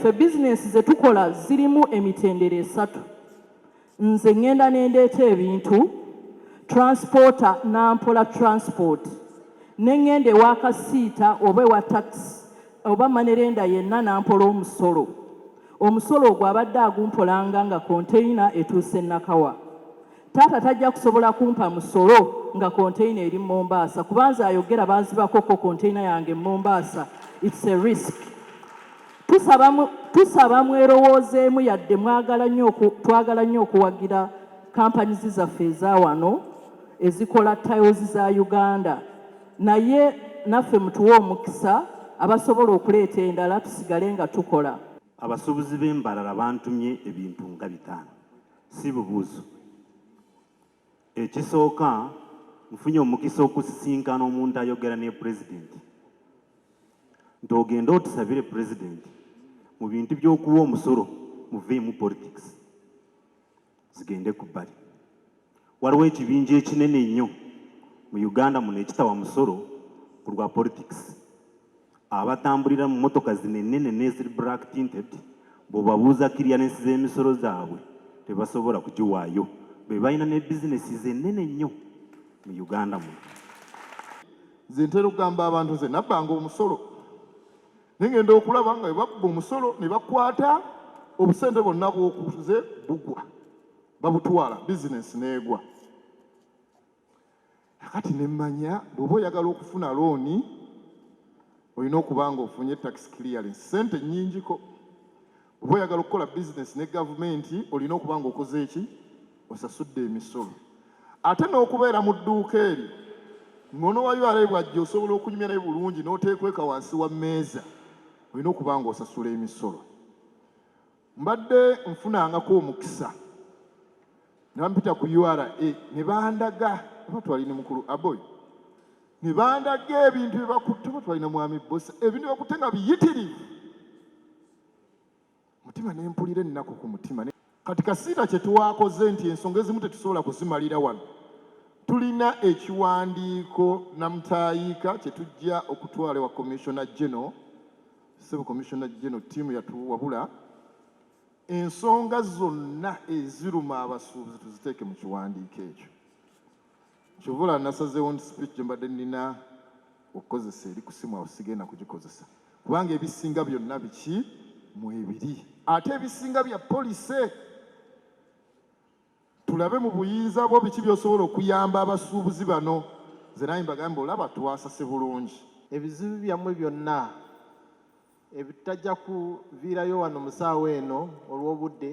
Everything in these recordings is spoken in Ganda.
Ffe bizinensi ze tukola zirimu emitendera esatu. Nze ŋŋenda ne ndeeta ebintu, transporter n'ampola transport, ne ŋŋenda ewa kasiita oba ewa takisi oba manerenda yenna n'ampola omusolo. Omusolo ogwo abadde agumpolanga nga konteyina etuuse Nakawa. Taata tajja kusobola kumpa musolo nga container eri Mombasa kuba nze ayogera bazibako ko container yange Mombasa it's a risk tusaba tusaba mwerowoozeemu yadde mwagala nnyo twagala nnyo okuwagira companies zaffe ezawano ezikola tiles za Uganda naye naffe mutuwe omukisa abasobola okuleeta endala tusigale nga tukola abasuubuzi b'embarara bantumye ebintu nga bitaano si bubuuzo. Ekisooka nfunye omukisa okusisinkana omuntu ayogera ne pulezidenti nti ogende otusabire pulezidenti mu bintu by'okuwa omusolo muveemu politics zigende ku bbali Waliwo ekibinja ekinene ennyo mu Uganda muno ekitawa musolo ku lwa politikisi. Abatambulira mu mmotoka zino ennene n'eziri black tinted bw'obabuuza kiriyalensi z'emisolo zaabwe tebasobola kugiwaayo. Be balina ne bizinesi z'ennene nnyo mu Uganda muno. Nze ntera okugamba abantu nze nabbanga omusolo naye ngenda okulaba nga bwe babba omusolo ne bakwata obusente bwonna bwokuze bugwa. babutwala bizinensi n'egwa akati ne mmanya bw'oba oyagala okufuna looni olina okuba nga ofunye tax clearance sente nnyingiko oba oyagala okukola bizinesi ne gavumenti olina okuba nga okoze eki osasudde emisolo ate n'okubeera mu dduuka eryo ngono wa ura bwajja osobola okunyumya naye bulungi n'oteekweka wansi wa mmeeza olina okuba nga osasula emisolo Mbadde nfunangako omukisa nampita ku ura ne bandaga oba twali ne mukulu aboy ne bandaga ebintu bye bakutte oba twali na mwami bosa ebintu bakutte nga biyitirivu mutima ne mpulira ennaku ku mutima kati kasiita kye twakoze nti ensonga ezimu tetusobola kuzimalira wano tulina ekiwandiiko namutayiika kye tujja okutwala wa commissioner general Sebo Commissioner General ttiimu yatuwabula ensonga zonna eziruma abasuubuzi tuziteeke mu kiwandiiko ekyo kyovula nasazeewo nti speech gye mbadde nnina okukozesa eri ku simu awo sigenda kugikozesa kubanga ebisinga byonna biki mwebiri ate ebisinga bya polise Tulabe mu buyinza bwo biki by'osobola okuyamba abasuubuzi bano. Nze nange mbagambe olaba twasase bulungi. Ebizibu byammwe byonna ebitajja kuviirayo wano mu ssaawa eno olw'obudde,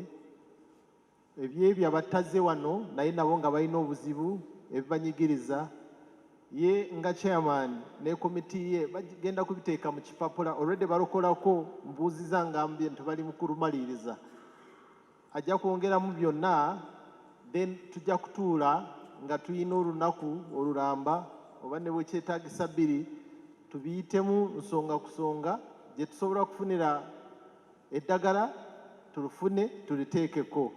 eby'ebyo abatazze wano naye nabo nga balina obuzibu ebibanyigiriza, ye nga chairman ne komiti ye bagenda kubiteeka mu kipapula already balokolako mbuuziza ngambye nti bali mu kulumaliriza. ajja kwongeramu byonna then tujja kutuula nga tulina olunaku olulamba oba ne bwekyetagisa bbiri tubiyitemu nsonga kusonga gye tusobola okufunira eddagala tulufune tuliteekeko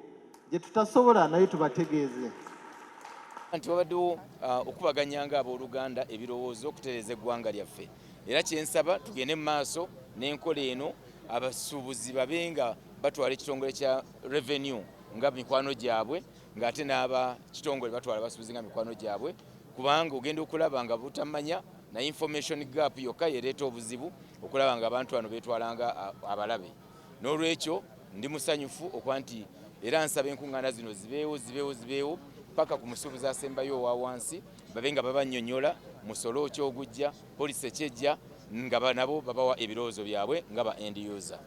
gye tutasobola naye tubategeeze nti wabaddewo uh, okubaganya nga abooluganda ebirowoozo okutereeza eggwanga lyaffe era kyensaba tugende mu maaso n'enkola eno abasuubuzi babe nga batwala ekitongole kya revenue nga mikwano gyabwe ng'ate n'aba kitongole batwala basuubizi nga mikwano gyabwe kubanga ogenda okulaba nga butamanya na information gap yokka yereeta obuzibu okulaba nga abantu bano betwalanga abalabe n'olwekyo ndi musanyufu okuba nti era nsaba enkuŋŋaana zino zibeewo zibeewo zibeewo paka ku musuubuzi asembayo owa wansi babe nga babanyonyola musolo okyogujja polisi ekyejja nga nabo babawa ebirowoozo byabwe nga ba end user